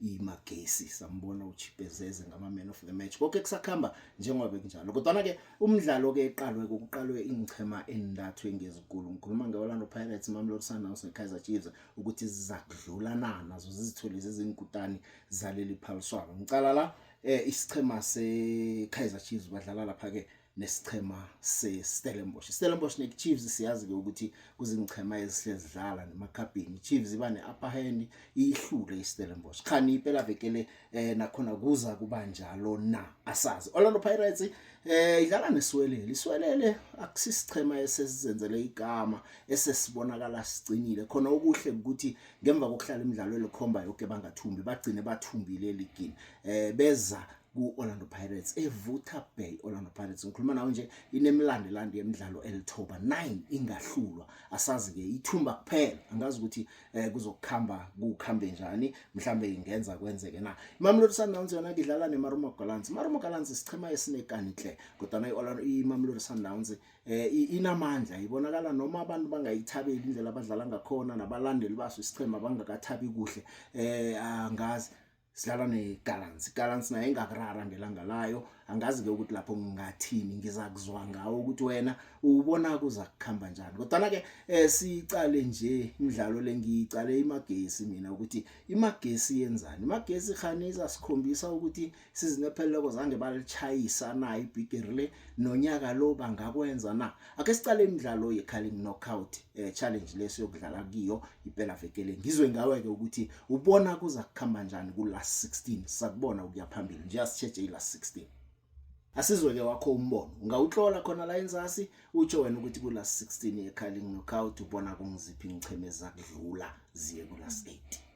imagesi sambona uchipezeze ngama-man of the match konke kusakuhamba njengoba bekunjalo kodwana-ke umdlalo-ke eqalwe kokuqalwe iinchema entathu engezikulu ngikhuluma nge-orlando pirates imamlord sundowns ne-kaizer chiefs ukuthi zizakudlula na nazo zizithole zizingikutani zaleli phaliswano ngicala la um isichema se-kaizer chiefs badlala lapha-ke nesichema seStellenbosch. Stellenbosch neChiefs siyazi-ke ukuthi kuzingichema ezihlezi zidlala nemakhabhini. Chiefs iba ne-upper hand iyihlule iStellenbosch. Khani impela vekele eh, nakhona kuza kuba njalo na asazi. Orlando Pirates eh idlala neswelele. Iswelele akusisichema esesizenzele igama esesibonakala sicinile. Khona okuhle ukuthi ngemva kokuhlala imidlalo elikhomba yonke bangathumbi bagcine bathumbile eligini. Eh beza ku-Orlando Pirates evutha bhe i-Orlando Pirates ngikhuluma nawe nje inemlando elandi yemidlalo elithoba 9 ingahlulwa asazi-ke ithumba kuphela angazi ukuthi eh, kuzokuhamba kuhambe njani mhlambe ingenza kwenzeke na imamelodi sundowns yona kidlala nemaruma gallants maruma gallants isichema esinekani hle kodwana imamelodi sundowns eh inamandla ibonakala noma abantu bangayithabeli indlela abadlala ngakhona nabalandeli baso isichema bangakathabi kuhle eh angazi sidlala negallants igallants naye engakurara ngelanga layo angazi-ke ukuthi lapho ngingathini ngiza kuzwa ngawo ukuthi wena ubona kuza kuhamba njani kodwana-ke um siyicale nje imidlalo le ngiyicale imagesi mina ukuthi imagesi yenzani imagesi khani izasikhombisa ukuthi sizinepheleleko zange balichayisa na ibhigiri le nonyaka lo bangakwenza na ake sicale imidlalo ye-calling knockout eh, challenge leso yokudlala kiyo impela vekele ngizwe ngawe ke ukuthi ubona kuza kukhamba kanjani ku last 16 sakubona ukuya phambili nje asitsheje i last 16 asizwe ke wakho umbono ungawuhlola khona la enzasi utsho wena ukuthi ku last 16 ye calling knockout ubona kungiziphi ngichemeza kudlula ziye ku last 8